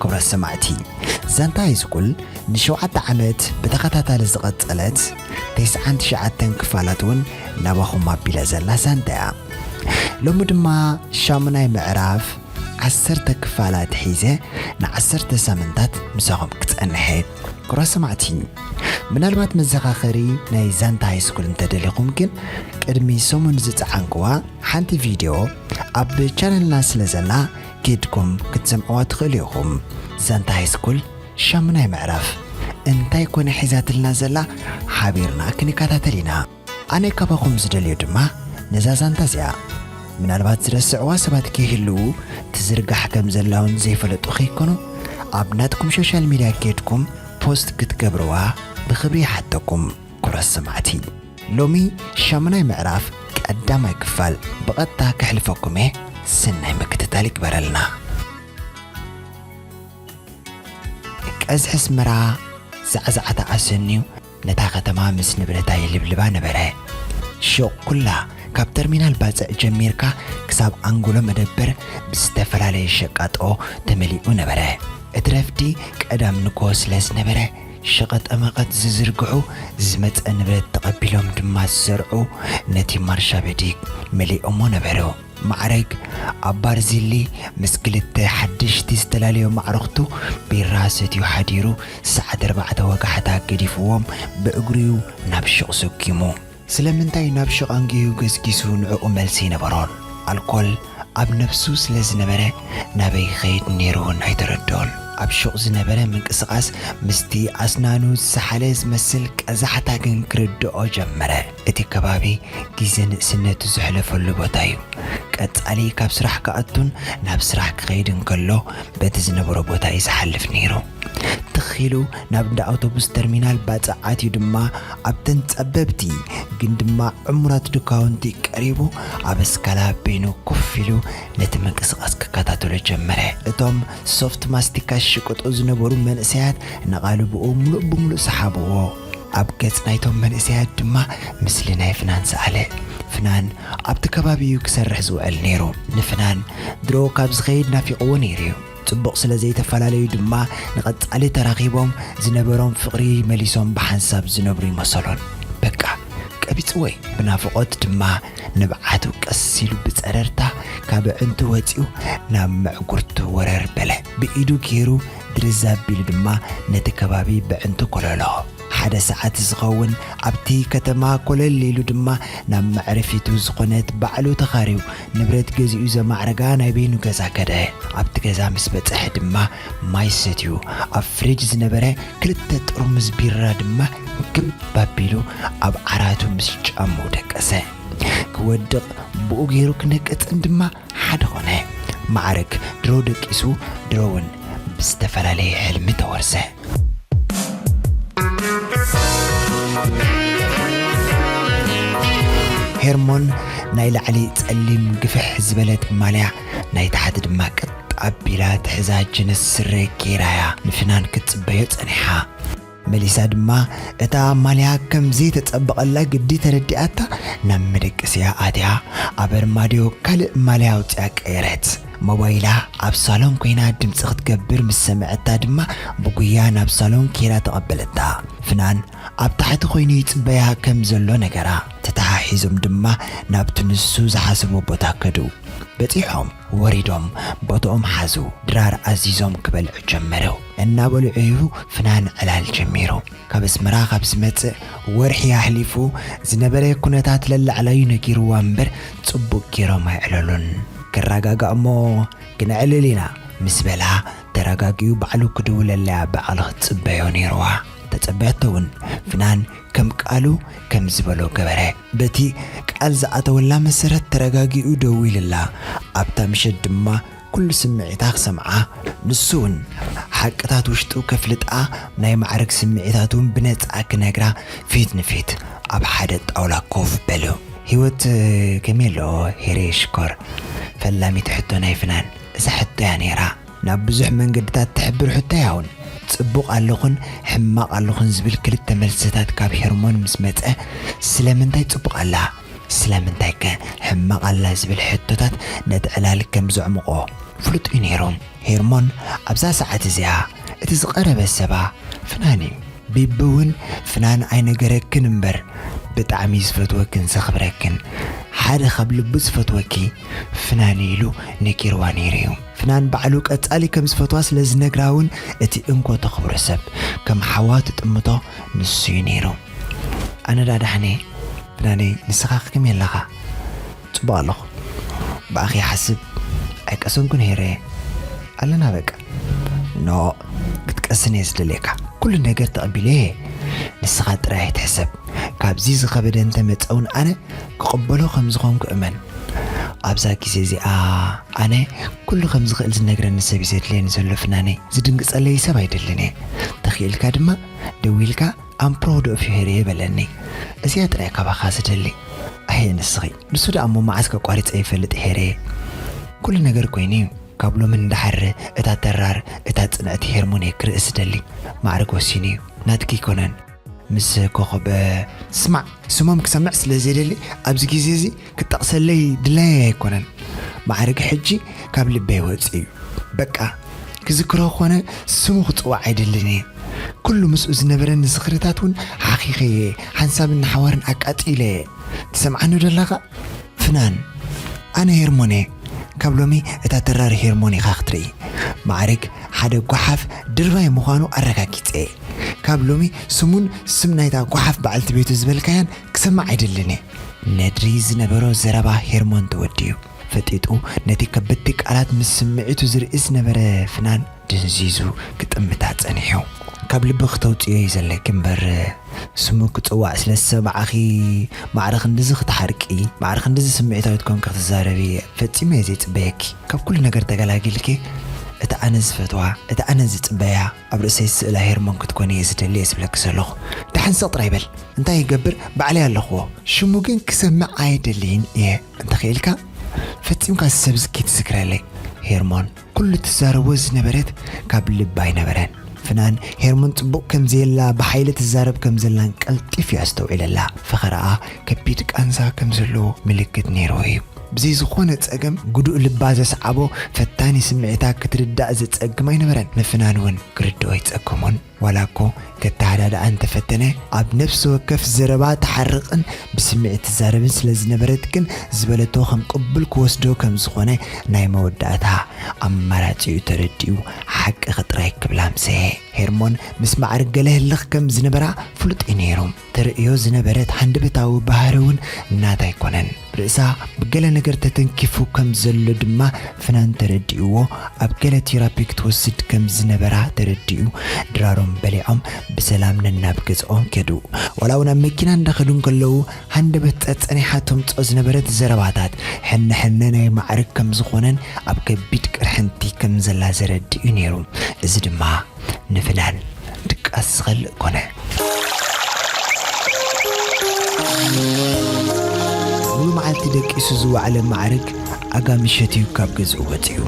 ክብረት ሰማዕቲ ዛንታ ሃይስኩል ንሸውዓተ ዓመት ብተኸታታሊ ዝቐጸለት ተስዓን ትሽዓተን ክፋላት እውን ናባኹም ኣቢላ ዘላ ዛንታ እያ። ሎሚ ድማ ሻሙናይ ምዕራፍ ዓሰርተ ክፋላት ሒዘ ንዓሰርተ ሳምንታት ምሳኹም ክጸንሐ እየ። ክብራት ሰማዕቲ ምናልባት መዘኻኸሪ ናይ ዛንታ ሃይስኩል እንተደሊኹም ግን ቅድሚ ሰሙን ዝጸዓንክዋ ሓንቲ ቪድዮ ኣብ ቻነልና ስለ ዘላ ኬድኩም ክትሰምዕዋ ትኽእሉ ኢኹም። ዛንታ ሃይስኩል ሻሙናይ ምዕራፍ እንታይ ኮነ ሒዛትልና ዘላ ሓቢርና ክንከታተል ኢና። ኣነ ካባኹም ዝደልዮ ድማ ነዛ ዛንታ እዚኣ ምናልባት ዝረስዕዋ ሰባት ከይህልዉ ትዝርጋሕ ከም ዘላ ውን ዘይፈለጡ ከይኮኑ ኣብ ናትኩም ሾሻል ሚድያ ኬድኩም ፖስት ክትገብርዋ ብኽብሪ ይሓተኩም። ኩቡራት ሰማዕቲ ሎሚ ሻሙናይ ምዕራፍ ቀዳማይ ክፋል ብቀጥታ ከሕልፈኩም እየ ሰናይ ምክትታል ይግበረልና። ቀዝሒ ኣስመራ ዛዕዛዕታ ኣሰንዩ ነታ ከተማ ምስ ንብረታ የልብልባ ነበረ። ሹቕ ኩላ ካብ ተርሚናል ባጽዕ ጀሚርካ ክሳብ ኣንጎሎ መደበር ብዝተፈላለየ ሸቃጦ ተመሊኡ ነበረ። እቲ ረፍዲ ቀዳም ንግሆ ስለዝነበረ ሸቐጠመቐጥ ዝዝርግሑ፣ ዝመጸ ንብረት ተቐቢሎም ድማ ዝዘርዑ ነቲ ማርሻበዲግ መሊኦሞ ነበሩ። ማዕረግ፣ ኣብ ባርዚሊ ምስ ክልተ ሓደሽቲ ዝተላለዮም ኣዕሩኽቱ ቢራ ሰትዩ ሓዲሩ ሰዓት ኣርባዕተ ወጋሕታ ገዲፉዎም ብእግሩ'ዩ ናብ ሹቕ ሰጒሙ። ስለምንታይ ናብ ሽቓንጊኡ ገስጊሱ ንዕኡ መልሲ ኣይነበሮን? ኣልኮል ኣብ ነብሱ ስለ ዝነበረ ናበይ ክኸይድ ኔሩ ውን ኣይተረድኦን። ኣብ ሹቕ ዝነበረ ምንቅስቓስ ምስቲ ኣስናኑ ዝሰሓለ ዝመስል ቀዛሕታ ግን ክርድኦ ጀመረ። እቲ ከባቢ ግዜ ንእስነቱ ዘሕለፈሉ ቦታ'ዩ። ቀጻሊ ካብ ስራሕ ክኣቱን ናብ ስራሕ ክኸይድን ከሎ በቲ ዝነበሮ ቦታ'ዩ ዝሓልፍ ኔሩ። ትኽ ኢሉ ናብ እንዳ ኣውቶቡስ ተርሚናል ባጽዕ ኣትዩ ድማ ኣብተን ጸበብቲ ግን ድማ ዕሙራት ድኳውንቲ ቀሪቡ ኣብ እስካላ በይኑ ኮፍ ኢሉ ነቲ ምንቅስቓስ ክከታተሎ ጀመረ። እቶም ሶፍት ማስቲካ ዝሽቅጡ ዝነበሩ መንእሰያት ነቓልብኡ ምሉእ ብምሉእ ሰሓብዎ። ኣብ ገጽ ናይቶም መንእሰያት ድማ ምስሊ ናይ ፍናን ሰኣለ። ፍናን ኣብቲ ከባቢ'ዩ ክሰርሕ ዝውዕል ነይሩ። ንፍናን ድሮ ካብ ዝኸይድ ናፊቕዎ ነይሩ'ዩ። ጽቡቕ ስለ ዘይተፈላለዩ ድማ ንቐጻሊ ተራኺቦም ዝነበሮም ፍቕሪ መሊሶም ብሓንሳብ ዝነብሩ ይመሰሎን በቃ ቀቢጽዎ'ዩ። ብናፍቖት ድማ ንብዓቱ ቀስ ኢሉ ብጸረርታ ካብ ኣዕንቱ ወጺኡ ናብ ምዕጉርቱ ወረር በለ። ብኢዱ ገይሩ ድርዝ ኣቢሉ ድማ ነቲ ከባቢ በዕንቱ ኮለሎ። ሓደ ሰዓት ዝኸውን ኣብቲ ከተማ ኮለል ኢሉ ድማ ናብ መዕረፊቱ ዝኾነት ባዕሉ ተኻርዩ ንብረት ገዚኡ ዘማዕረጋ ናይ በይኑ ገዛ ከደ። ኣብቲ ገዛ ምስ በጽሐ ድማ ማይ ሰትዩ ኣብ ፍሪጅ ዝነበረ ክልተ ጥርሙዝ ቢራ ድማ ግብ ኣቢሉ ኣብ ዓራቱ ምስ ጫምኡ ደቀሰ። ክወድቕ ብኡ ገይሩ ክነቅጽን ድማ ሓደ ኾነ። መዓርግ ድሮ ደቂሱ ድሮ ውን ብዝተፈላለየ ሕልሚ ተወርሰ። ሄርሞን ናይ ላዕሊ ጸሊም ግፍሕ ዝበለት ማልያ ናይ ታሕቲ ድማ ቀጥ ኣቢላ ትሕዛ ጅንስ ስረ ጌራ እያ ንፍናን ክትጽበዮ ጸኒሓ። መሊሳ ድማ እታ ማልያ ከምዘይተጸበቐላ ግዲ ተረዲኣታ ናብ መደቀሲኣ ኣትያ ኣብ ኣርማድዮ ካልእ ማልያ ኣውጺኣ ቀየረት። ሞባይላ ኣብ ሳሎን ኮይና ድምጺ ክትገብር ምስ ሰምዐታ ድማ ብጉያ ናብ ሳሎን ኬይዳ ተቐበለታ። ፍናን ኣብ ታሕቲ ኮይኑ ይጽበያ ከም ዘሎ ነገራ። ተተሓሒዞም ድማ ናብቲ ንሱ ዝሓሰቦ ቦታ ከዱ። በጺሖም። ወሪዶም ቦትኦም ሓዙ ድራር ኣዚዞም ክበልዑ ጀመሩ እናበልዑ እዩ ፍናን ዕላል ጀሚሩ ካብ ኣስመራ ካብ ዝመጽእ ወርሒ ኣሕሊፉ ዝነበረ ኩነታት ለላዕላዩ ነጊርዋ እምበር ጽቡቅ ጌሮም ኣይዕለሉን ክራጋጋእ እሞ ክነዕልል ኢና ምስ በላ ተራጋጊኡ ባዕሉ ክድውለላያ ብዓል ክትጽበዮ ኔርዋ ተጸበያቶ ውን ፍናን ከም ቃሉ ከም ዝበሎ ገበረ በቲ ቃል ዝኣተወላ መሰረት ተረጋጊኡ ደዊሉላ፣ ኣብታ ምሸት ድማ ኩሉ ስምዒታ ክሰምዓ፣ ንሱውን ሓቅታት ውሽጡ ከፍልጣ ናይ ማዕርግ ስምዒታቱውን ብነጻ ክነግራ ፊት ንፊት ኣብ ሓደ ጣውላ ኮፍ በሉ። ህይወት ከመይ ኣሎ ሄሬ ሽኮር? ፈላሚት ሕቶ ናይ ፍናን እዛ ሕቶ'ያ ነይራ። ናብ ብዙሕ መንገድታት ትሕብር ሕቶ ያውን ጽቡቕ ኣለኹን ሕማቕ ኣለኹን ዝብል ክልተ መልስታት ካብ ሄርሞን ምስ መጸ ስለምንታይ ጽቡቕ ኣላ ስለምንታይ ከ ሕማቕ ኣላ ዝብል ሕቶታት ነቲ ዕላል ከም ዘዕሙቖ ፍሉጥ እዩ ነይሩ። ሄርሞን ኣብዛ ሰዓት እዚኣ እቲ ዝቐረበ ሰባ ፍናን እዩ። ቢቢ እውን ፍናን ኣይነገረክን እምበር ብጣዕሚ እዩ ዝፈትወክን ዘኽብረክን። ሓደ ካብ ልቡ ዝፈትወኪ ፍናን እዩ ኢሉ ነጊርዋ ነይሩ እዩ። ፍናን ባዕሉ ቀጻሊ ከም ዝፈትዋ ስለ ዝነግራ ውን እቲ እንኮ ተኽብሮ ሰብ ከም ሓዋ ትጥምቶ ንሱ ዩ ነይሩ። ኣነ ድኣ ዳሓንየ ፍናነይ ንስኻኸ ከመይ ኣለኻ? ጽቡቕ ኣለኹ ብኣኺ ይሓስብ ኣይቀሰንኩን ሄረየ ኣለና በቃ ኖእ ክትቀስን እየ ዝደልየካ ኩሉ ነገር ተቐቢለዮ እየ ንስኻ ጥራይ ኣይትሕሰብ ካብዚ ዝኸበደ እንተመጸ ውን ኣነ ክቕበሎ ከም ዝዀንኩ እመን። ኣብዛ ግዜ እዚኣ ኣነ ኵሉ ከም ዝኽእል ዝነግረኒ ሰብ እዩ ዘድልየኒ ዘሎ ፍናነይ። ዝድንግጸለይ ሰብ ኣይደልን እየ። ተኺእልካ ድማ ደዊልካ I'm proud of you ሄሪየ በለኒ። እዚኣ ጥራይ እየ ካባኻ ዝደሊ። ኣየ ንስኺ! ንሱ ደኣ እሞ መዓስ ከቋሪጸ ይፈልጥ ሄሪየ። ኵሉ ነገር ኰይኑ እዩ። ካብ ሎሚ ንደሓር እታ ተራር እታ ጽንዕቲ ሄርሞን'የ ክርእስ ዝደሊ። ማዕርግ ወሲኑ እዩ። ናትኪ ኣይኰነን። ምስ ኮኾብ ስማዕ ስሞም ክሰምዕ ስለ ዘይደሊ ኣብዚ ግዜ እዚ ክጠቕሰለይ ድላየይ ኣይኮነን ማዕርግ ሕጂ ካብ ልበይ ወጺኡ እዩ በቃ ክዝክሮ ኮነ ስሙ ክጽዋዕ ኣይደልን እየ ኩሉ ምስኡ ዝነበረኒ ዝኽርታት እውን ሓኺኸ እየ ሓንሳብን ንሓዋርን ኣቃጺለ እየ ትሰምዓኒ ዶ ኣለኻ ፍናን ኣነ ሄርሞን እየ ካብ ሎሚ እታ ድራር ሄርሞኒካ ክትርኢ ማዕርግ ሓደ ጓሓፍ ድርባይ ምዃኑ ኣረጋጊጸ'የ። ካብ ሎሚ ስሙን ስም ናይታ ጓሓፍ በዓልቲ ቤቱ ዝበልካያን ክሰምዕ ኣይደልን'የ። ነድሪ ዝነበሮ ዘረባ ሄርሞን ተወዲኡ ፈጢጡ ነቲ ከበድቲ ቃላት ምስ ስምዒቱ ዝርእይ ዝነበረ ፍናን፣ ድንዚዙ ክጥምታ ጸኒሑ። ካብ ልቢ ክተውጽእዮ እዩ ዘለኪ እምበር ስሙ ክጽዋዕ ስለ ዝሰማዕኺ ማዕረ ክንድዚ ክትሓርቂ ማዕረ ክንድዚ ስምዒታዊት ኮንኪ ክትዛረቢ ፈጺሙ እየ ዘይጽበየኪ። ካብ ኩሉ ነገር ተገላጊልኪ እቲ ኣነ ዝፈትዋ እቲ ኣነ ዝጽበያ ኣብ ርእሰይ ዝስእላ ሄርሞን ክትኮኒ እየ ዝደሊ እየ ዝብለኪ ዘለኹ። ደሓን ስቕ ጥራይ በል እንታይ ይገብር ባዕለይ ኣለኽዎ። ሽሙ ግን ክሰምዕ ኣይደልይን እየ እንተኺኢልካ ፈጺምካ እዚ ሰብ እዚ ክይትዝክረለይ ሄርሞን። ኩሉ ትዛረቦ ዝነበረት ካብ ልባ ኣይነበረን። ፍናን ሄርሞን ጽቡቕ ከም ዘየላ ብሓይሊ ትዛረብ ከም ዘላን ቀልጢፉ እዩ ኣስተውዒለላ። ፈኸራኣ ከቢድ ቃንዛ ከም ዘለዎ ምልክት ነይርዎ እዩ። ብዘይ ዝኾነ ጸገም ግዱእ ልባ ዘስዓቦ ፈታኒ ስምዒታ ክትርዳእ ዘጸግም ኣይነበረን። ንፍናን እውን ክርድኦ ኣይጸገሞን። ዋላ እኮ ከተሃዳድኣ እንተፈተነ ኣብ ነፍሲ ወከፍ ዘረባ ትሓርቕን ብስምዒት ትዛረብን ስለ ዝነበረት ግን ዝበለቶ ከም ቅቡል ክወስዶ ከም ዝኾነ ናይ መወዳእታ ኣማራጺኡ ተረዲኡ ሓቅኺ ጥራይ ክብላ ምሰ ሄርሞን ምስ ማዕርግ ገለ ህልኽ ከም ዝነበራ ፍሉጥ እዩ ነይሩ። ተርእዮ ዝነበረት ሃንደበታዊ ባህሪ'ውን ናታ ኣይኮነን። ርእሳ ብገለ ነገር ተተንኪፉ ከም ዘሎ ድማ ፍናን ተረዲእዎ ኣብ ገለ ቲራፒ ክትወስድ ከም ዝነበራ ተረዲኡ ድራሮም በሊዖም ብሰላም ነናብ ገዝኦም ከዱ። ዋላ'ውን ኣብ መኪና እንዳኸዱ እንከለዉ ሃንደበት ጸጸኒሓ ተምጽኦ ዝነበረት ዘረባታት ሕነ ሕነ ናይ ማዕርግ ከም ዝኾነን ኣብ ከቢድ ቅርሕንቲ ከም ዘላ ዘረድእ'ዩ ነይሩ። እዚ ድማ። ንፍናን ድቃስ ዝኸልእ ኮነ። ሙሉ መዓልቲ ደቂሱ ዝወዓለ ማዕርግ ኣጋሚ ሸትዩ ካብ ገዝኡ ወጺኡ።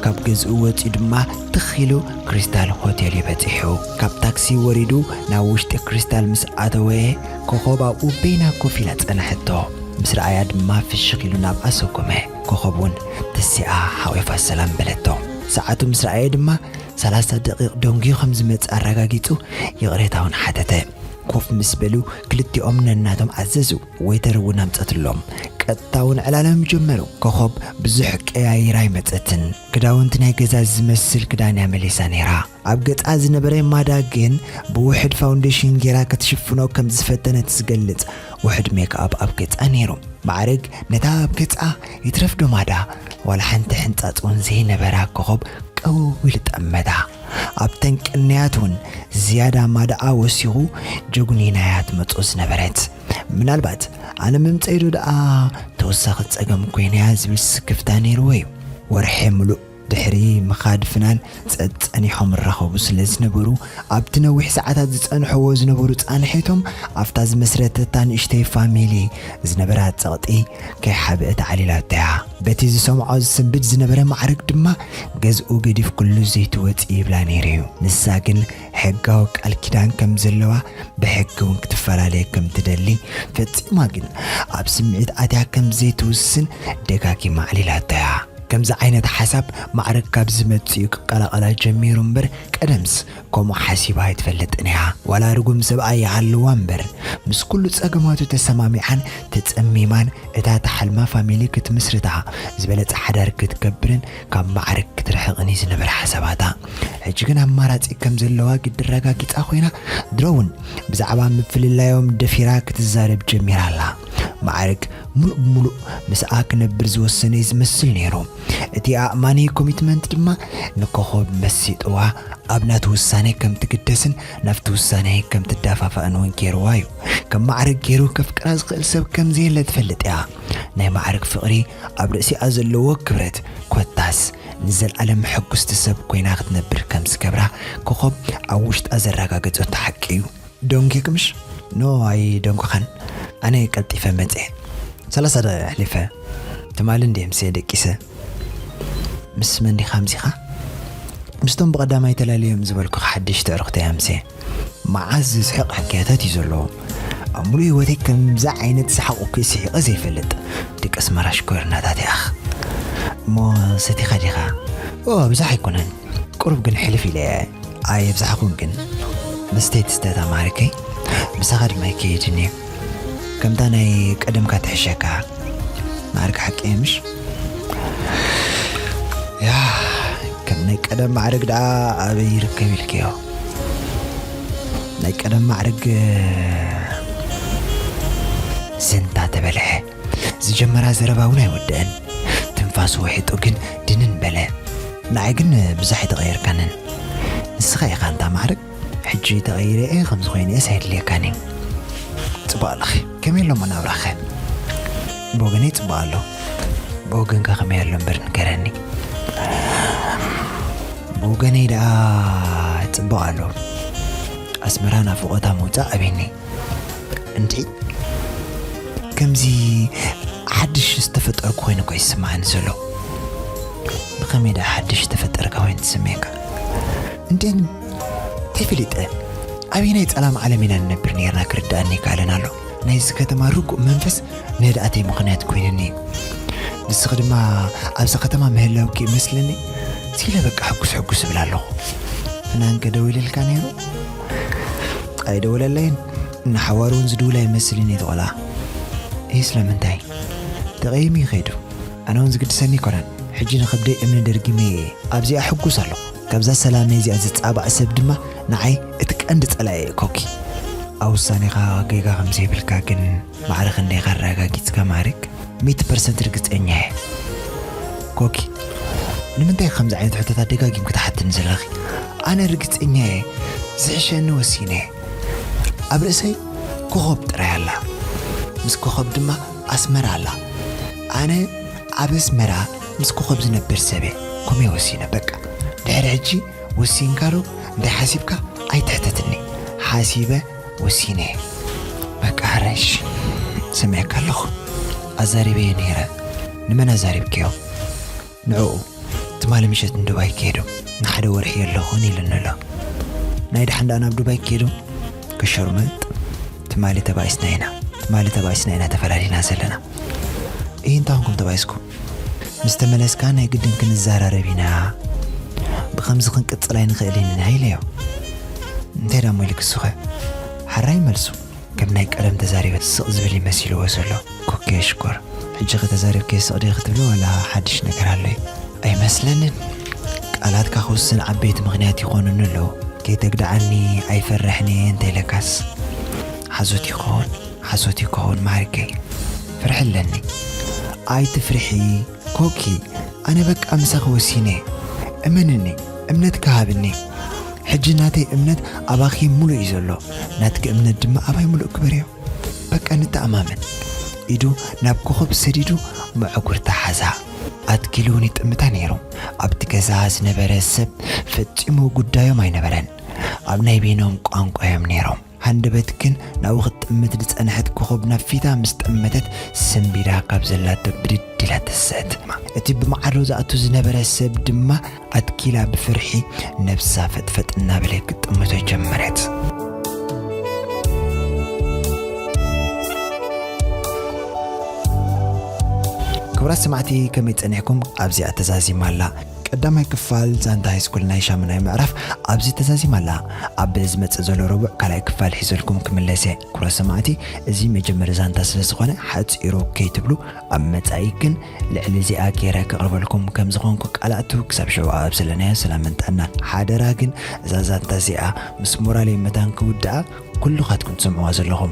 ካብ ገዝኡ ወጺኡ ድማ ትኽ ኢሉ ክሪስታል ሆቴል'ዩ በጺሑ። ካብ ታክሲ ወሪዱ ናብ ውሽጢ ክሪስታል ምስ ኣተወ ኮኾብ ኣብኡ በይና ኮፍ ኢላ ጸንሐቶ። ምስ ረኣያ ድማ ፍሽኽ ኢሉ ናብኣ ሰጎመ። ኮኾብ እውን ተሲኣ ሓቚፋ ሰላም በለቶ። ሰዓቱ ምስ ረኣየ ድማ ሰላሳ ደቒቕ ደንጉዩ ከም ዝመጽእ ኣረጋጊጹ ይቕሬታ እውን ሓተተ። ኮፍ ምስ በሉ ክልቲኦም ነናቶም ኣዘዙ፣ ወይተር እውን ኣምጸትሎም። ቀጥታ እውን ዕላሎም ጀመሩ። ኮኾብ ብዙሕ ቀያይራ ኣይመጸትን። ክዳውንቲ ናይ ገዛ ዝመስል ክዳን እያ መሊሳ ነይራ። ኣብ ገጻ ዝነበረ ማዳ ግን ብውሕድ ፋውንዴሽን ጌራ ክትሽፍኖ ከም ዝፈተነት ዝገልጽ ውሕድ ሜክኣፕ ኣብ ገጻ ነይሩ። ማዕርግ ነታ ኣብ ገጻ ይትረፍዶ ማዳ ዋላ ሓንቲ ሕንጻጽ እውን ዘይነበራ ኮኾብ ቀውው ኢሉ ጠመታ። ኣብተን ቅንያት እውን ዝያዳ ማዳኣ ወሲኹ ጀጉኒና'ያ ትመጾ ዝነበረት። ምናልባት ኣነ ምምጸኢዶ ደኣ ተወሳኺ ጸገም ኮይነያ ዝብል ስክፍታ ነይርዎ እዩ። ወርሒ ምሉእ ድሕሪ ምኻድ ፍናን ጸጸኒሖም እራኸቡ ስለ ዝነበሩ፣ ኣብቲ ነዊሕ ሰዓታት ዝጸንሑዎ ዝነበሩ ጻንሒቶም፣ ኣብታ ዝመስረተታ ንእሽተይ ፋሚልይ ዝነበራ ጸቕጢ ከይሓበእት ዓሊላቶ'ያ። በቲ ዝሰምዖ ዝስንብድ ዝነበረ ማዕርግ ድማ ገዝኡ ገዲፍክሉ ዘይትወጺ ይብላ ነይሩ'ዩ። ንሳ ግን ሕጋዊ ቃል ኪዳን ከም ዘለዋ ብሕጊ እውን ክትፈላለየ ከም ትደሊ ፈጺማ ግን ኣብ ስምዒት ኣትያ ከም ዘይትውስን ደጋጊማ ኣዕሊላቶ እያ። ከምዚ ዓይነት ሓሳብ ማዕረ ካብ ዝመጽእ እዩ ክቀላቐላ ጀሚሩ እምበር ቀደምስ ከምኡ ሓሲባ ኣይትፈልጥን እያ። ዋላ ርጉም ሰብኣይ ይሃልዋ እምበር ምስ ኩሉ ጸገማቱ ተሰማሚዓን ተጸሚማን እታ ትሓልማ ፋሚሊ ክትምስርታ ዝበለጸ ሓዳር ክትገብርን ካብ ማዕርግ ክትርሕቕን እዩ ዝነበረ ሓሳባታ። ሕጂ ግን ኣማራጺ ከም ዘለዋ ግዲ ኣረጋጊጻ ኮይና፣ ድሮ'ውን ብዛዕባ ምፍልላዮም ደፊራ ክትዛረብ ጀሚራ ኣላ። ማዕርግ ምሉእ ብምሉእ ምስኣ ክነብር ዝወሰነ እዩ ዝመስል ነይሩ። እቲ ኣእማኒ ኮሚትመንት ድማ ንኮኾብ መሲጥዋ ኣብ ናቱ ውሳነ ከም ትግደስን ናብቲ ውሳነ ከም ትዳፋፋእን እውን ገይርዋ እዩ። ከም ማዕርግ ገይሩ ከፍቅራ ዝኽእል ሰብ ከም ዘየለ ትፈልጥ እያ። ናይ ማዕርግ ፍቕሪ ኣብ ርእሲኣ ዘለዎ ክብረት ኮታስ ንዘልኣለም ሕጉስቲ ሰብ ኮይና ክትነብር ከም ዝገብራ ኮኾብ ኣብ ውሽጣ ዘራጋገጸቶ ሓቂ እዩ። ደንጊክምሽ? ኖ ኣይደንጎኻን ኣነ ቀልጢፈ መጼ ሰላሳ ደቂቅ ኣሕሊፈ ትማሊ እንድየ ምሰ ደቂሰ። ምስ መን ዲኻ ኣምሲኻ? ምስቶም ብቀዳማይ ተላልዮም ዝበልኩኻ ሓደሽቲ ኣዕሩኽተይ ኣምሴ። መዓዝ ዘስሕቕ ሕክያታት እዩ ዘለዎም ኣብ ሙሉእ ሂወተይ ከምዚ ዓይነት ሰሓቕ እኮ ስሒቐ ዘይፈልጥ ደቂ ኣስመራ ሽኮሪናታት ያኣኽ እሞ ሰቲኻ ዲኻ ኦ ኣብዛሓ ኣይኮነን ቁሩብ ግን ሕልፍ ኢለ እየ ኣየብዛሕኹን ግን መስተይ ትስተታ ማሪከይ ምሳኻ ድማ ኣይከየድን እየ ከምታ ናይ ቀደምካ ትሕሸካ ማዕርግ ሓቂ እየ ምሽ ያ ከም ናይ ቀደም ማዕርግ ደኣ ኣበይ ይርከብ ኢልክዮ ናይ ቀደም ማዕርግ ዘንታ ተበልሐ። ዝጀመራ ዘረባ እውን ኣይወደአን። ትንፋሱ ውሒጡ ግን ድንን በለ። ንዓይ ግን ብዙሕ ኣይተቐየርካንን። ንስኻ ኢኻ እንታ ማዕርግ። ሕጂ ተቐይረ እየ፣ ከምዚ ኮይነ እየስ ኣይድልየካን እዩ። ጽቡቕ ኣለኺ። ከመይ ኣሎ መናብራኸ? ብወገነይ ጽቡቕ ኣሎ። ብወገንካ ከመይ ኣሎ እምበር ንገረኒ። ብወገነይ ደኣ ጽቡቕ ኣሎ። ኣስመራ ናፍቖታ ምውጻእ ኣቤኒ። እንድዒ ከምዚ ሓድሽ ዝተፈጠርኩ ኮይኑ እኮ እዩ ዝስምዓኒ ዘሎ። ብኸመይ ደኣ ሓድሽ ዝተፈጠርካ ኮይኑ ትስምየካ? እንተን ተይፈሊጠ ኣበየናይ ጸላም ዓለም ኢና ንነብር ነርና ክርድኣኒ ይከኣለን ኣሎ ናይዚ ከተማ ርጉእ መንፈስ ነድኣተይ ምኽንያት ኮይነኒ እዩ ንስኺ ድማ ኣብዚ ከተማ ምህላውኪ ይመስለኒ ሲለ በቃ ሕጉስ ሕጉስ እብል ኣለኹ ፍናንከ ደዊልልካ ነይሩ ኣይደወለለይን ንሓዋሩ እውን ዝድውላ ይመስልን እዩ ተቆልዓ እይ ስለምንታይ ተቐይሙ ይኸይዱ ኣነ እውን ዝግድሰኒ ይኮነን ሕጂ ንኸብደይ እምኒ ደርጊመ እየ ኣብዚኣ ሕጉስ ኣለኹ ካብዛ ሰላመይ እዚኣ ዝጻባእ ሰብ ድማ ንዓይ እቲ ቀንዲ ጸላኢየ ኮኪ። ኣብ ውሳኔኻ ጌጋ ከም ዘይብልካ ግን ማዕረ ክንደይ ኢኻ ኣረጋጊጽካ ማሪክ? ሚእቲ ፐርሰንት ርግጸኛ እየ ኮኪ። ንምንታይ ከምዚ ዓይነት ሕቶታት ደጋጊምኪ ትሓትኒ ዘለኺ? ኣነ ርግጸኛ እየ ዝሕሸኒ ወሲነ እየ። ኣብ ርእሰይ ኮኾብ ጥራይ ኣላ። ምስ ኮኾብ ድማ ኣስመራ ኣላ። ኣነ ኣብ ኣስመራ ምስ ኮኾብ ዝነብር ሰብየ ኮሜ ወሲነ በቃ ድሕሪ ሕጂ ወሲንካ ዶ እንታይ ሓሲብካ ኣይትሕተትኒ ሓሲበ ወሲነየ በቃ ሕረሽ ሰሚዐካ ኣለኹ ኣዛሪበየ ነይረ ንመን ኣዛሪብክዮ ንዕኡ ትማሊ ምሸት ንዱባይ ከይዱ ንሓደ ወርሒ የለኹን ኢሉኒ ኣሎ ናይ ድሓን ደኣ ናብ ዱባይ ከይዱ ከሸርምጥ ትማሊ ተባኢስና ኢና ትማሊ ተባኢስና ኢና ተፈላሊና ዘለና እይ እንታይ ኹንኩም ተባኢስኩም ምስ ተመለስካ ናይ ግድን ክንዘራረብ ኢና ብኸምዚ ክንቅጽል ኣይንኽእልን ኢና ኢለዮ እንታይ ዳሞ ኢሉ ክሱኸ ሓራይ መልሱ ከም ናይ ቀደም ተዛሪበ ስቕ ዝብል እዩ መሲልዎ ዘሎ ኩኬ ሽኮር ሕጂኸ ተዛሪብከ ስቕ ድየ ክትብሎ ዋላ ሓድሽ ነገር ኣሎ እዩ ኣይመስለንን ቃላትካ ክውስን ዓበይቲ ምኽንያት ይኾኑኒ ኣለዉ ከይተግድዓኒ ኣይፈርሕን እየ እንተኢለካስ ሓሶት እዩ ክኸውን ሓሶት እዩ ክኸውን ማዕሪገይ ፍርሒ ኣለኒ ኣይትፍርሒ ኮኪ ኣነ በቃ ምሳኺ ወሲነ እመንኒ እምነትኪ ሃብኒ ሕጂ ናተይ እምነት ኣባኺ ሙሉእ እዩ ዘሎ ናትኪ እምነት ድማ ኣባይ ሙሉእ ግበርዮ በቃ ንተኣማመን ኢዱ ናብ ኮኾብ ሰዲዱ መዕጉርታ ሓዛ ኣትኪሉ እውን ይጥምታ ነይሩ ኣብቲ ገዛ ዝነበረ ሰብ ፈጺሙ ጉዳዮም ኣይነበረን ኣብ ናይ ቤኖም ቋንቋ እዮም ነይሮም ሃንደበት ግን ናብኡ ክትጥምት ዝጸንሐት ኮኾብ ናብ ፊታ ምስ ጠመተት ሰምቢዳ ካብ ዘላቶ ብድድ ኢላ ተሰትማ። እቲ ብማዕዶ ዝኣቱ ዝነበረ ሰብ ድማ ኣትኪላ ብፍርሒ ነብሳ ፈጥፈጥ እናበለ ክትጥምቶ ጀመረት። ክቡራት ሰማዕቲ ከመይ ጸኒሕኩም ኣብዚኣ ተዛዚማ ኣላ። ቀዳማይ ክፋል ዛንታ ሃይስኩል ናይ ሻሙናይ ምዕራፍ ኣብዚ ተዛዚማ ኣላ። ኣብ ዝመጽእ ዘሎ ረቡዕ ካልኣይ ክፋል ሒዘልኩም ክምለስ እየ። ኩብራት ሰማዕቲ እዚ መጀመሪ ዛንታ ስለ ዝኾነ ሓጺሩ ከይትብሉ ኣብ መጻኢ ግን ልዕሊ እዚኣ ጌረ ከቕርበልኩም ከም ዝኾንኩ ቃል ኣቱ ክሳብ ሽዑ ኣብ ዘለናዮ ሰላምን ጥዕናን። ሓደራ ግን እዛ ዛንታ እዚኣ ምስ ሞራለይ መታን ክውድኣ ኩሉኻትኩም ትሰምዕዋ ዘለኹም